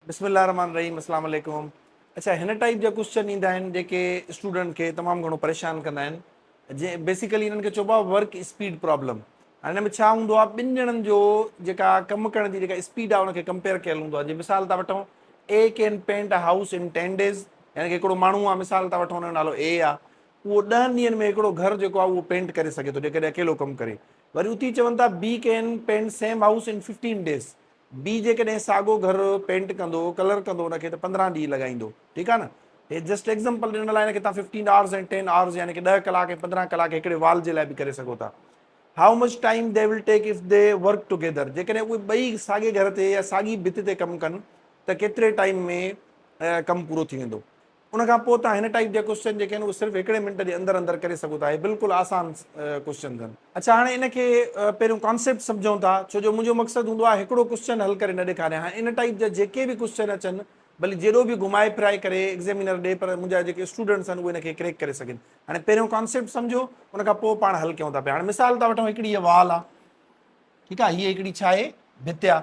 بسم الله الرحمٰن الرحيم اسلام عليڪم اڇا هن ٽائيپ جا ڪوسچن ايندا آهن جيڪي اسٽوڊنٽ کي تمام گهڻو پريشان ڪندا آهن جي بيسيڪلي انهن کي چئبو آهي ورڪ اسپيڊ پرابلم هاڻي هن ۾ ڇا هوندو آهي ٻن ڄڻن جو جيڪا ڪم ڪرڻ جي جيڪا اسپيڊ آهي ان کي ڪمپيئر ڪيل هوندو آهي جي مثال ٿا وٺون A can paint a house in ten days يعني هڪڙو ماڻهو آهي مثال ٿا وٺون ان جو نالو اي آهي اهو ڏهن ڏينهن ۾ هڪڙو گهر جيڪو آهي اهو پينٽ ڪري سگهي ٿو جيڪڏهن اڪيلو ڪم ڪري وري اتي چون ٿا B can paint same house in fifteen days B جيڪڏهن ساڳو گهر پينٽ ڪندو ڪلر ڪندو ان کي ته پندرهن ڏينهن لڳائيندو ٺيڪ آهي نه هي جسٽ ايگزمپل ڏنل آهي ان کي تان ففٽين آورس ۽ ٽين آورس يعني ڪي ڏهه ڪلاڪ ۽ پندرهن ڪلاڪ هڪڙي وال جي لاء به ڪري سگهو ٿا how much time they will take if they work together جيڪڏهن اهي ٻئي ساڳي گهر تي يا ساڳي ڀت تي ڪم ڪن ته ڪيتري ٽائيم ۾ ڪم پورو ٿي ويندو ان کان پوء توهان هن ٽائيپ جا ڪوشچن جيڪي آهن اهي صرف هڪڙي منٽ جي اندر اندر ڪري سگهو ٿا اهي بلڪل آسان ڪوشچنز آهن. اڇا هاڻي ان کي پهريون ڪانسيپٽ سمجهون ٿا ڇو جو منهنجو مقصد هوندو آهي هڪڙو ڪوشچن حل ڪري نه ڏيکاريان هاڻي ان ٽائيپ جا جيڪي به ڪوشچن اچن ڀلي جيڏو به گهمائي ڦرائي ڪري ايگزيمينر ڏي پر منهنجا جيڪي اسٽوڊنٽس آهن اهي ان کي ڪريڪ ڪري سگهن هاڻي پهريون ڪانسيپٽ سمجهو ان کان پوء پاڻ حل ڪيون ٿا پيا هاڻي مثال ٿا وٺون هڪڙي هيء وال آهي ٺيڪ آهي هيء هڪڙي ڇا آهي ڀت آهي.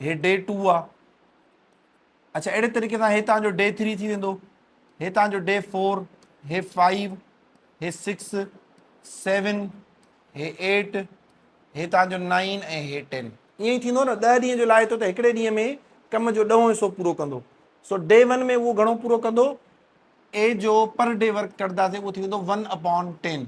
هي ڊي ٽو آ اچھا اهڙي طريقي سان هي تان جو ڊي ٿري ٿي ويندو هي تان جو ڊي فور هي فائيو هي سڪس سيون هي ايٽ هي تان جو نائن ۽ هي ٽين ائين ئي ٿيندو نه ڏه ڏينهن جو لائي ٿو ته هڪڙي ڏينهن ۾ ڪم جو ڏهون حصو پورو ڪندو سو ڊي ون ۾ اهو گهڻو پورو ڪندو اي جو پر ڊي ورڪ ڪرنداسي اهو ٿي ويندو ون اپون ٽين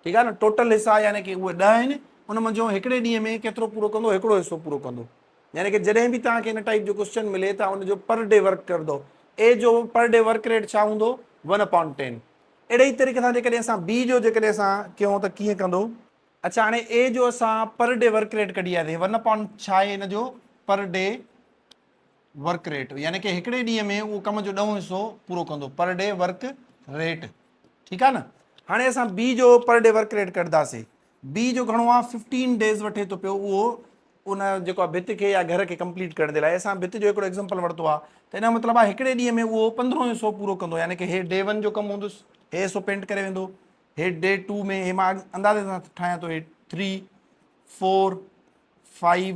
ٺيڪ آهي نه ٽوٽل حصا يعني ڪي اهي ڏهه آهن ان منجهو هڪڙي ڏينهن ۾ ڪيترو پورو ڪندو هڪڙو حصو پورو ڪندو يعني ڪي جڏهن به توهان کي ان ٽائيپ جو ڪوسچن ملي توهان ان جو پر ڊي ورڪ ڪردو اي جو پر ڊي ورڪ ريٽ ڇا هوندو ون اپان ٽين اهڙي ئي طريقي سان جيڪڏهن اسان بي جو جيڪڏهن اسان ڪيون ته ڪيئن ڪندو اچا هاڻي اي جو اسان پر ڊي ورڪ ريٽ ڪڍي آياسي ون اپان ڇا آهي ان جو پر ڊي ورڪ ريٽ يعني ڪي هڪڙي ڏينهن ۾ اهو ڪم جو ڏهون حصو پورو ڪندو پر ڊي ورڪ ريٽ ٺيڪ آهي نه هاڻي اسان بي جو پر ڊي ورڪ ريٽ ڪڍداسي بي جو گهڻو آهي ففٽين ڊيز وٺي ٿو پيو اهو ان جيڪو آهي ڀت کي يا گهر کي ڪمپليٽ ڪرڻ جي لاء اسان ڀت جو هڪڙو ايگزامپل ورتو آهي ته ان جو مطلب آهي هڪڙي ڏينهن ۾ اهو پندرهون حصو پورو ڪندو يعني ڪي هي ڊي ون جو ڪم هوندس هي حصو پينٽ ڪري ويندو هي ڊي ٽو ۾ هي مان اندازي سان ٺاهيان ٿو هي three four five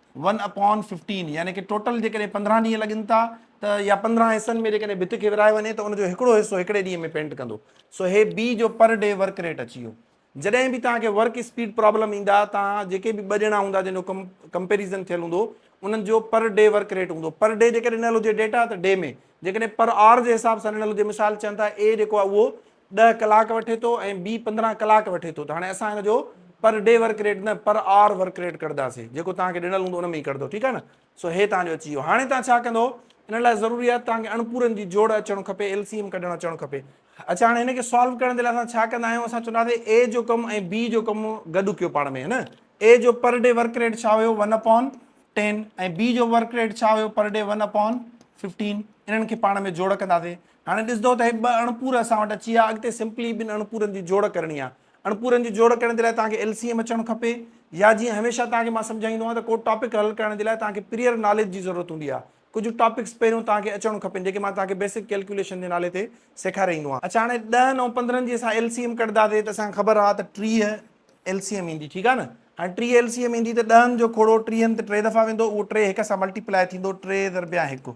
one upon fifteen يعني ڪي ٽوٽل جيڪڏهن پندرهن ڏينهن لڳن ٿا ته يا پندرهن حصن ۾ جيڪڏهن ڀت کي ورهايو وڃي ته ان جو هڪڙو حصو هڪڙي ڏينهن ۾ پينٽ ڪندو سو هي بي جو پر ڊي ورڪ ريٽ اچي ويو جڏهن به توهان کي ورڪ اسپيڊ پرابلم ايندا توهان جيڪي به ٻه ڄڻا هوندا جن جو ڪم ڪمپيريزن ٿيل هوندو انهن جو پر ڊي ورڪ ريٽ هوندو پر ڊي جيڪڏهن ڏنل هجي ڊيٽا ته ڊي ۾ جيڪڏهن پر آر جي حساب سان ڏنل هجي مثال چون ٿا اي جيڪو آهي اهو ڏهه ڪلاڪ وٺي ٿو ۽ بي پندرهن ڪلاڪ وٺي ٿو ته هاڻي اسان ان جو پر ڊي ورڪ ريٽ نه پر آر ورڪ ريٽ ڪڍداسين جيڪو توهان کي ڏنل هوندو ان ۾ ئي ڪڍدو ٺيڪ آهي نه سو هي توهان جو اچي ويو هاڻي توهان ڇا ڪندو ان لاء ضروري آهي توهان کي اڻپورن جي جوڙ اچڻ کپي ايل سي ايم ڪڍڻ اچڻ کپي اچا هاڻي هن کي سالو ڪرڻ جي لاء اسان ڇا ڪندا آهيون اسان چوندا سي اي جو ڪم ۽ بي جو ڪم گڏ ڪيو پاڻ ۾ نه اي جو پر ڊي ورڪ ريٽ ڇا هيو ون اپون ٽين ۽ بي جو ورڪ ريٽ ڇا هيو per day one upon fifteen انهن کي پاڻ ۾ جوڙ ڪنداسين هاڻي ڏسندؤ ته هي ٻه اڻپور اسان وٽ اچي ويا، اڳتي سمپلي ٻن اڻپورن جي جوڙ ڪرڻي آهي. اڻپورن جي جوڙ ڪرڻ جي لاء توهان کي ايل سي ايم اچڻ کپي يا جيئن هميشه توهان کي مان سمجهائيندو آهيان ته ڪو ٽاپڪ حل ڪرڻ جي لاء توهان کي پريئر ناليج جي ضرورت هوندي آهي. ڪجهه ٽاپڪس پهريون توهان کي اچڻ کپن جيڪي مان توهان کي بيسڪ ڪيلڪيوليشن جي نالي تي سيکاري ايندو آهيان. اڇا هاڻي ڏهن ۽ پندرهن جي اسان ايل سي ايم ڪڍنداسي ته اسان کي خبر آهي ته ٽيهه ايل سي ايم ايندي ٺيڪ آهي نه. هاڻي ٽيهه ايل سي ايم ايندي ته ڏهن جو کوڙو ٽيهن تي ٽي دفعا ويندو اهو ٽي هڪ سان ملٽي پلائي ٿيندو ٽي ضربيا هڪ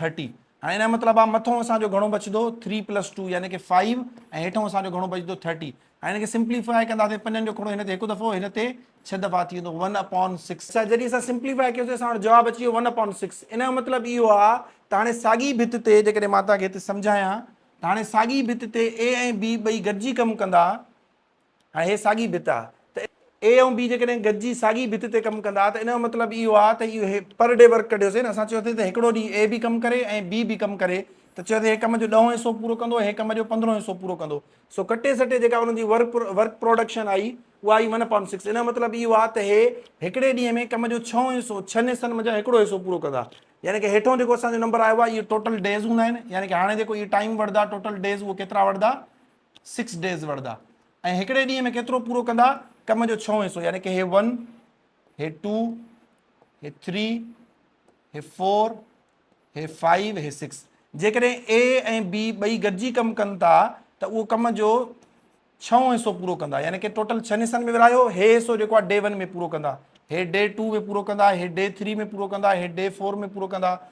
ٿرٽي هاڻي ان جو مطلب آ مٿو اسان جو گهڻو بچدو ٿري پلس ٽو يعني ڪي فائو ۽ هيٺو اسان جو گهڻو بچدو ٿرٽي هاڻي هن کي سمپليفائي ڪنداسين پنجن جو کڙو هن تي هڪ دفعو هن تي ڇهه دفعا ٿي ويندو ون اپون سڪس اچا جڏهن اسان سمپليفائي ڪيوسي اسان وٽ جواب اچي ويو ون اپون سڪس ان جو مطلب اهو آ ته هاڻي ساڳي ڀت تي جيڪڏهن مان توهان کي هتي سمجهايان ته هاڻي ساڳي ڀت تي اي ۽ بي ٻئي گڏجي ڪم ڪندا آهي ساڳي ڀت آ ته اي ۽ بي جيڪڏهن گڏجي ساڳي ڀت تي ڪم ڪندا ته ان جو مطلب اهو آ ته اهو هي پر ڊي ورڪ ڪڍيوسين اسان چيوسين ته هڪڙو ڏينهن اي به ڪم ڪري ۽ بي به ڪم ڪري ته چيوسين هي ڪم جو ڏهون حصو پورو ڪندو هي ڪم جو پندرهون حصو پورو ڪندو سو ڪٽي سٽي جيڪا انهن جي ورڪ ورڪ پروڊڪشن آئي اها آئي ون اپان سڪس ان جو مطلب اهو آ ته هي هڪڙي ڏينهن ۾ ڪم جو ڇهون حصو ڇهن حصن منجهان هڪڙو حصو پورو ڪندا يعني ڪه هيٺون جيڪو اسان جو نمبر آيو آ اهو ٽوٽل ڊيز هوندا آهن يعني ڪه هاڻي جيڪو اهي ٽائيم وڙهدا ٽوٽل ڊيز اهو ڪيترا وڙهدا سڪس ڊيز وڙھندا ۽ ھڪڙي ڏينھن ۾ ڪيترو پورو ڪندا ڪم جو ڇھون حصو يعني ڪي ھي ون ھي ٽو ھي ٿري ھي فور ھي فائيو ھي سڪس جيڪڏھن اي ۽ بي ٻئي گڏجي ڪم ڪن ٿا ته اھو ڪم جو ڇھون حصو پورو ڪندا يعني ڪي ٽوٽل ڇھن حصن ۾ ورھايو ھي حصو جيڪو آھي ڊي ون ۾ پورو ڪندا ھي ڊي ٽو ۾ پورو ڪندا ھي ڊي ٿري ۾ پورو ڪندا ھي ڊي فور ۾ پورو ڪندا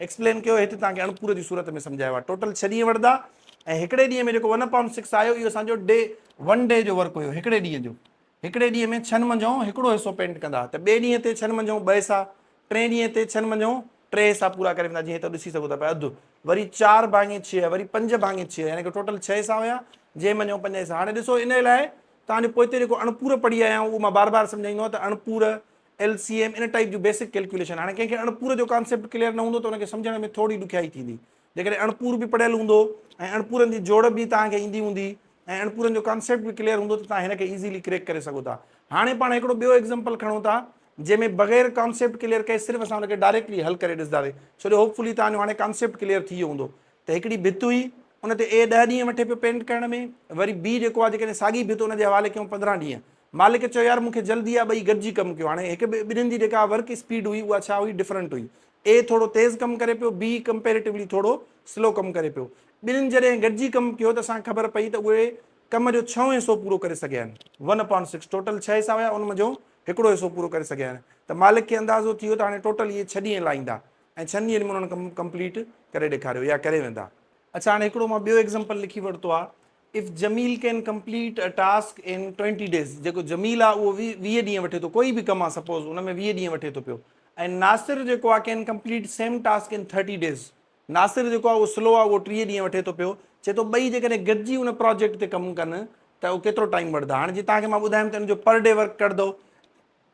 ايڪسپلين ڪيو هيٺ توهان کي اڻپوري جي صورت ۾ سمجهايو آهي ٽوٽل ڇهه ڏينهن وٺدا ۽ هڪڙي ڏينهن ۾ جيڪو ون پوائنٽ سڪس آيو اهو اسان جو ڊي ون ڊي جو ورڪ هيو هڪڙي ڏينهن جو هڪڙي ڏينهن ۾ ڇهن منجهون هڪڙو حصو پينٽ ڪندا ته ٻئي ڏينهن تي ڇهن منجهون ٻه حصا ٽئين ڏينهن تي ڇهن منجهون ٽي حصا پورا ڪري ويندا جيئن هتو ڏسي سگهو ٿا پيا اڌ وري چار ڀاڱي ڇهه وري پنج ڀاڱي ڇهه يعني ڪو ٽوٽل ڇهه حصا هيا جنهن منجهون پنج حصا هاڻي ڏسو ان لاء توهان جو پوئتي جيڪو اڻپور پڙهي آيا آهيون اهو مان بار بار سمجهائيندو آهيان ته اڻپور ايل سي ايم ان ٽائيپ جون بيسڪ ڪيلڪيوليشن هاڻي ڪنهن کي اڻپور جو ڪانسيپٽ ڪليئر نه هوندو ته ان کي سمجهڻ ۾ ٿورڙي ڏکيائي ٿيندي جيڪڏهن اڻپور به پڙهيل هوندو ۽ اڻپورن جي جوڙ به توهان کي ايندي هوندي ۽ اڻپورن جو ڪانسيپٽ به ڪليئر هوندو ته توهان هن کي ايزيلي ڪريڪ ڪري سگهو ٿا هاڻي پاڻ هڪڙو ٻيو ايگزامپل کڻون ٿا جنهن ۾ بغير ڪانسيپٽ ڪليئر ڪئي صرف اسان ان کي ڊائريڪٽلي حل ڪري ڏسنداسي ڇو جو هوپفلي توهان جو هاڻي ڪانسيپٽ ڪليئر ٿي ويو هوندو ته هڪڙي ڀت هئي ان تي اي ڏهه ڏينهن وٺي پيو پينٽ ڪرڻ ۾ وري بي جيڪو آهي جيڪڏهن ساڳي ڀت ان جي حوالي ڪيون پندرهن ڏينهن مالڪ چيو يار مون کي جلدي آ ٻئي گڏجي ڪم ڪيو هاڻي هڪ ٻئي ٻنهين جي جيڪا ورڪ اسپيڊ هئي اها ڇا هئي ڊفرنٽ هئي اي ٿورو تيز ڪم ڪري پيو بي ڪمپيريٽولي ٿورو سلو ڪم ڪري پيو ٻنهين جڏهن گڏجي ڪم ڪيو ته اسان کي خبر پئي ته اهي ڪم جو ڇهون حصو پورو ڪري سگهيا آهن ون اپان سڪس ٽوٽل ڇهه حصا هيا ان منجهو هڪڙو حصو پورو ڪري سگهيا آهن ته مالڪ کي اندازو ٿي ويو ته هاڻي ٽوٽل اهي ڇهه ڏينهن لائيندا ۽ ڇهن ڏينهن ۾ انهن ڪم ڪمپليٽ ڪري ڏيکاريو يا ڪري ويندا اڇا هاڻي هڪڙو مان ٻيو ايگزمپل لکي ورتو آ if Jamil can complete a task in twenty days جيڪو جميل آ اهو ويهه ڏينهن وٺي ٿو ڪوئي به ڪم آ سپوز ان ۾ ويهه ڏينهن وٺي ٿو پيو ۽ ناصر جيڪو آ can complete same task in thirty days Nasir جيڪو آ اهو سلو آ اهو ٽيهه ڏينهن وٺي ٿو پيو چي ٿو ٻئي جيڪڏهن گڏجي ان پراجيڪٽ تي ڪم ڪن ته اهو ڪيترو ٽائيم وٺدا هاڻي جي توهان کي مان ٻڌايم ته ان جو پر ڊي ورڪ ڪڍدو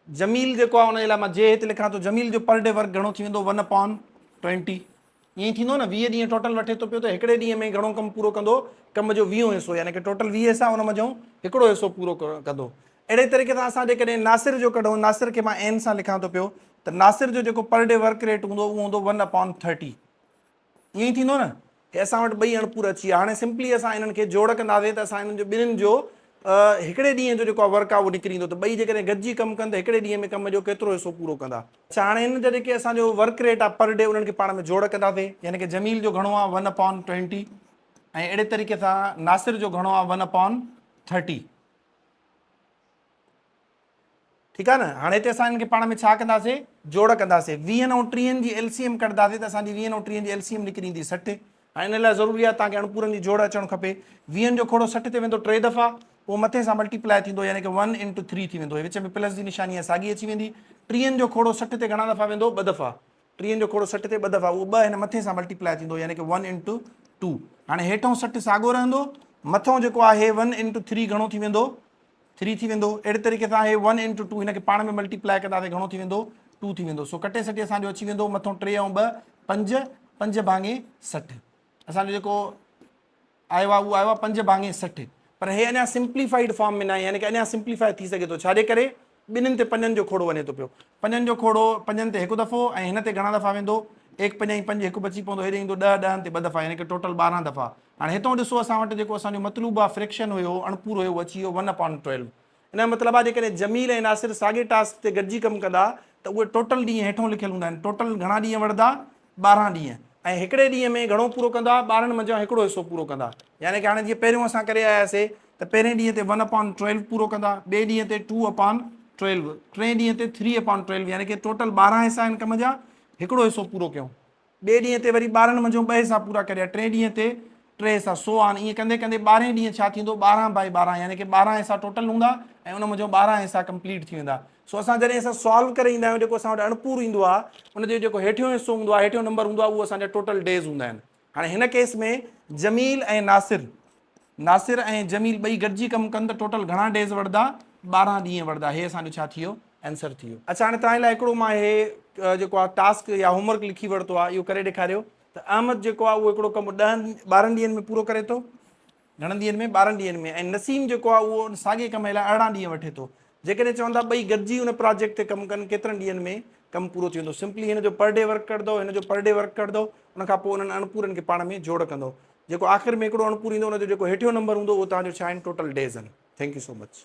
جميل جيڪو آهي ان جي لاء مان جي هت لکان ٿو جميل جو پر ڊي ورڪ گهڻو ٿي ويندو ون اپان ٽوئنٽي ائين ئي ٿيندو نه ويهه ڏينهن ٽوٽل وٺي ٿو پيو ته هڪڙي ڏينهن ۾ گهڻو ڪم پورو ڪندو ڪم جو ويهون حصو يعني ڪي ٽوٽل ويهه حصا ان منجهئون هڪڙو حصو پورو ڪندو اهڙي طريقي سان اسان جيڪڏهن ناصر جو ڪڍون ناصر کي مان اين سان لکان ٿو پيو ته ناصر جو جيڪو پر ڊي ورڪ ريٽ هوندو اهو هوندو ون اپان ٿرٽي ائين ئي ٿيندو نه هي اسان وٽ ٻئي اڻپور اچي ويا هاڻي سمپلي اسان انهن کي جوڙ ڪنداسين ته اسان انهن جو ٻنهين جو هڪڙي ڏينهن جو جيڪو ورڪ آهي اهو نڪري ويندو ته ٻئي جيڪڏهن گڏجي ڪم ڪن ته هڪڙي ڏينهن ۾ ڪم جو ڪيترو حصو پورو ڪندا. اڇا هاڻي هن جا جيڪي اسان جو ورڪ ريٽ آهي پر ڊي انهن کي پاڻ ۾ جوڙ ڪنداسين يعني ڪه جميل جو گهڻو آهي ون اپان ٽوئنٽي ۽ اهڙي طريقي سان ناصر جو گهڻو آهي ون اپان ٿرٽي ٺيڪ آ نه هاڻي هتي اسان هنن کي پاڻ ۾ ڇا ڪنداسين جوڙ ڪنداسين ويهن ۽ ٽيهن جي ايل سي ايم ڪڍنداسين ته اسان جي ويهن ۽ ٽيهن جي ايل سي ايم نڪري ايندي سٺ هاڻي ان لاء ضروري آ توهان کي اڻپورن جي جوڙ اچڻ کپي ويهن جو کوڙو سٺ تي ويندو ٽي دفعا پوء مٿي سان ملٽي پلائي ٿيندو يعني ڪه ون انٽو ٿري ٿي ويندو هي وچ ۾ پلس جي نشاني آ ساڳي اچي ويندي ٽيهن جو کوڙو سٺ تي گهڻا دفعا ويندو ٻه دفعا ٽيهن جو کوڙو سٺ تي ٻه دفعا اهو ٻه هن مٿين سان ملٽي پلائي ٿيندو يعني ڪه ون انٽو ٽو هاڻي هيٺئون سٺ ساڳو رهندو مٿئون جيڪو آهي ون انٽو ٿري گهڻو ٿي ويندو ٿري ٿي ويندو اهڙي طريقي سان هي ون انٽو ٽو هن کي پاڻ ۾ ملٽي پلائي ڪنداسي گهڻو ٿي ويندو ٽو ٿي ويندو سو کٽي سٽي اسانجو اچي ويندو مٿئون ٽي ۽ ٻه پنج پنج ڀاڱي سٺ اسانجو جيڪو آيو آهي اهو آيو آهي پنج ڀاڱي سٺ پر هي اڃا سمپليفائيڊ فارم ۾ ناهي يعني ڪه اڃا سمپليفائي ٿي سگهي ٿو ڇاجي ڪري ٻنهين تي پنجن جو کوڙو وڃي ٿو پيو پنجن جو کوڙو پنجن تي هڪ دفعو ۽ هن تي گهڻا دفعا ويندو ايڪ پنج ۽ پنج هڪ بچي پوندو هيڏي ايندو ڏهه ڏهن تي ٻه دفعا يعني ڪه ٽوٽل ٻارهن دفعا هاڻي هتئون ڏسو اسان وٽ جيڪو اسان جو مطلوب آهي فريڪشن هيو اڻپورو هيو اهو اچي ويو ون اپان ٽويلو ان جو مطلب آهي جيڪڏهن جميل ۽ ناصر ساڳئي ٽاسڪ تي گڏجي ڪم ڪندا ته اهي ٽوٽل ڏينهن هيٺون لکيل هوندا آهن ٽوٽل گهڻا ڏينهن وڙهدا ٻارهن ڏينهن ۽ هڪڙي ڏينهن ۾ گهڻو پورو ڪندا ٻارهن منجهان هڪڙو حصو پورو ڪندا يعني ڪه هاڻي جيئن پهريون اسان ڪري آيا سي ته پهرين ڏينهن تي ون اپان ٽويلو پورو ڪندا ٻئي ڏينهن تي ٽو اپان ٽويلو ٽئين ڏينهن تي ٿري اپان ٽويلو يعني ڪه ٽوٽل ٻارهن حصا آهن ڪم جا هڪڙو حصو پورو ڪيون ٻئي ڏينهن تي وري ٻارهن منجهو ٻه حصا پورا ڪريا، ٽئين ڏينهن تي ٽي حصا، سو آن، ائين ڪندي ڪندي ٻارهين ڏينهن ڇا ٿيندو ٻارهن بائي ٻارهن يعني ڪي ٻارهن حصا ٽوٽل هوندا ۽ ان منجهو ٻارهن حصا ڪمپليٽ ٿي ويندا. سو اسان جڏهن اسان سالو ڪري ايندا آهيون جيڪو اسان وٽ اڻپورو ايندو آهي ان جو جيڪو هيٺيون حصو هوندو آهي هيٺيون نمبر هوندو آهي اهو اسان جا ٽوٽل ڊيز هوندا آهن. هاڻي هن ڪيس ۾ جميل ۽ ناصر ناصر ۽ جميل ٻئي گڏجي ڪم ڪن ته ٽوٽل گهڻا ڊيز وڙهدا؟ ٻارهن ڏينهن وڙهدا هي اسان جو ڇا ٿي ويو آنسر ٿي ويو. اڇا هاڻي توهان لاء هڪڙو مان هي جيڪو آ ٽاسڪ يا هوم ورڪ لکي ورتو آ اهو ڪري ڏيکاريو ته احمد جيڪو آ اهو هڪڙو ڪم ڏهن ٻارهن ڏينهن ۾ پورو ڪري ٿو گهڻن ڏينهن ۾ ٻارهن ڏينهن ۾ ۽ نسيم جيڪو آ اهو ساڳي ڪم لاء ارڙهن ڏينهن وٺي ٿو جيڪڏهن چون ٿا ٻئي گڏجي ان پراجيڪٽ تي ڪم ڪن ڪيترن ڏينهن ۾ ڪم پورو ٿي ويندو سمپلي هن جو پر ڊي ورڪ ڪڍدو هن جو پر ڊي ورڪ ڪڍدو ان کان پوء انهن اڻپورن کي پاڻ ۾ جوڙ ڪندو جيڪو آخر ۾ هڪڙو اڻپور ايندو ان جو جيڪو هيٺيون نمبر هوندو اهو توهان جو ڇا آهن ٽوٽل ڊيز آهن ٿينڪ يو سو مچ.